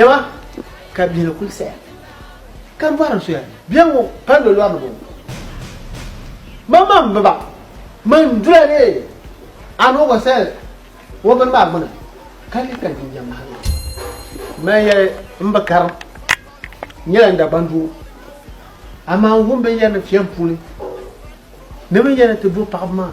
Dama ka bɛ ni kul saya, ka bɔri n soya bɛ ŋɔ pali bɛ lɔr ni bɔŋɔ. Mammaŋ bi ba mini dula ni a ni o gba saya o bini maa gbini, ka di ka jinjam mahali o. M mali yɛli m bi kari, n nyɛla n Dagbaŋ doo, amaa n wum bɛ ni yɛri ni fiɛm puuni ni bɛ ni yɛri ni ti bo paɣiba maa.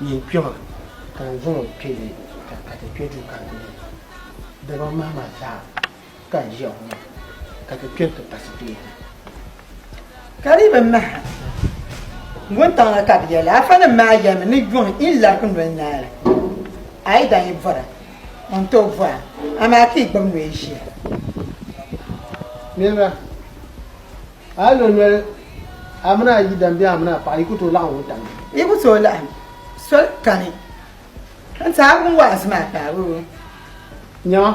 Nyin kpe ma, ka n zaŋ o kpe li ka ka ti kpe du karili ni. Dama mahima zaa ka n ʒiya ŋɔ maa, ka ti kpe nti pasi ti yihina. Ka di bi maha wuntaŋ la ka bɛ yɛli, Afanim maa yɛlimi ni yuŋ yi larigi noli naali. A yi daa yi vɔra, o ni tooi vɔra, amaa ka yi gbibi noya ʒiya. Niriba! A yi lo noli a mini a yidana bee a mini a paɣa, yi ku tooi laɣim wuntaŋ ni. Yi ku tooi laɣim soli kani nti a wum waazu maa kpaari o. Nyama!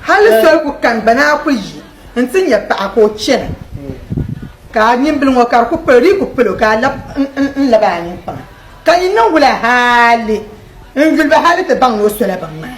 Hali soli ku kani gba ni a ku yi nti nya paɣa ka o chana, ka a nimbili ŋɔ ka di ku palo di yi ku pal o ka a lab n-lab a ninkpaŋa. Ka yi niŋ wula hali n-yuli ba hali ti baŋ ni o sola binŋmaa?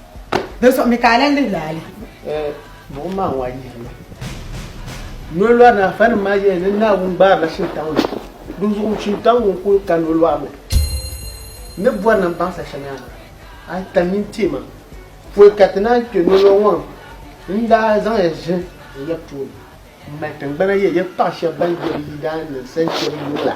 Di so mi ka lan lihi laali. Buɣim maa ŋɔ a yi yihili nolɔri ni afanim maa yɛli ni Naawuni gbaarila Shintaŋ na, di zuɣu Shintaŋ ŋɔ n-kul ka nolɔri ni ni bɔri ni m-baŋsi shɛŋa a tam mini teei ma pol ka ti naan kpe nolɔri ŋɔ ni n daa zaŋ ya ʒini n ya tooni m-mali tiŋgbana yɛli ya paɣ shɛb bɛn doli yi daani ninsal shɛb yuŋ la.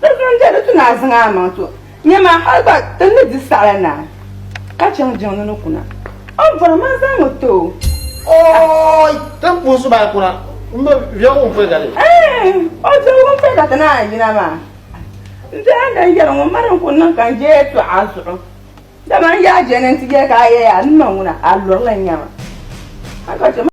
Di zuŋu n-chɛ ni ti naai zaŋ a maŋ to nyɛ ma hal gba ti ni di saɣila naai ka chaŋ jiŋli ni kuna. O ni bɔri ma zaŋ o ti o. Ooi! Ti puhi so maa kuna m-bi viɛg wunfɛga ni. Eeh! O viɛg wunfɛga ti naai yina maa n-daa lan yɛri ŋun mali n ku niŋ ka n-je tɔɣi a zuɣu. Dama n yaai je ni n ti yɛli ka a yɛya a ni ma ŋuna a lurili n-nya ma.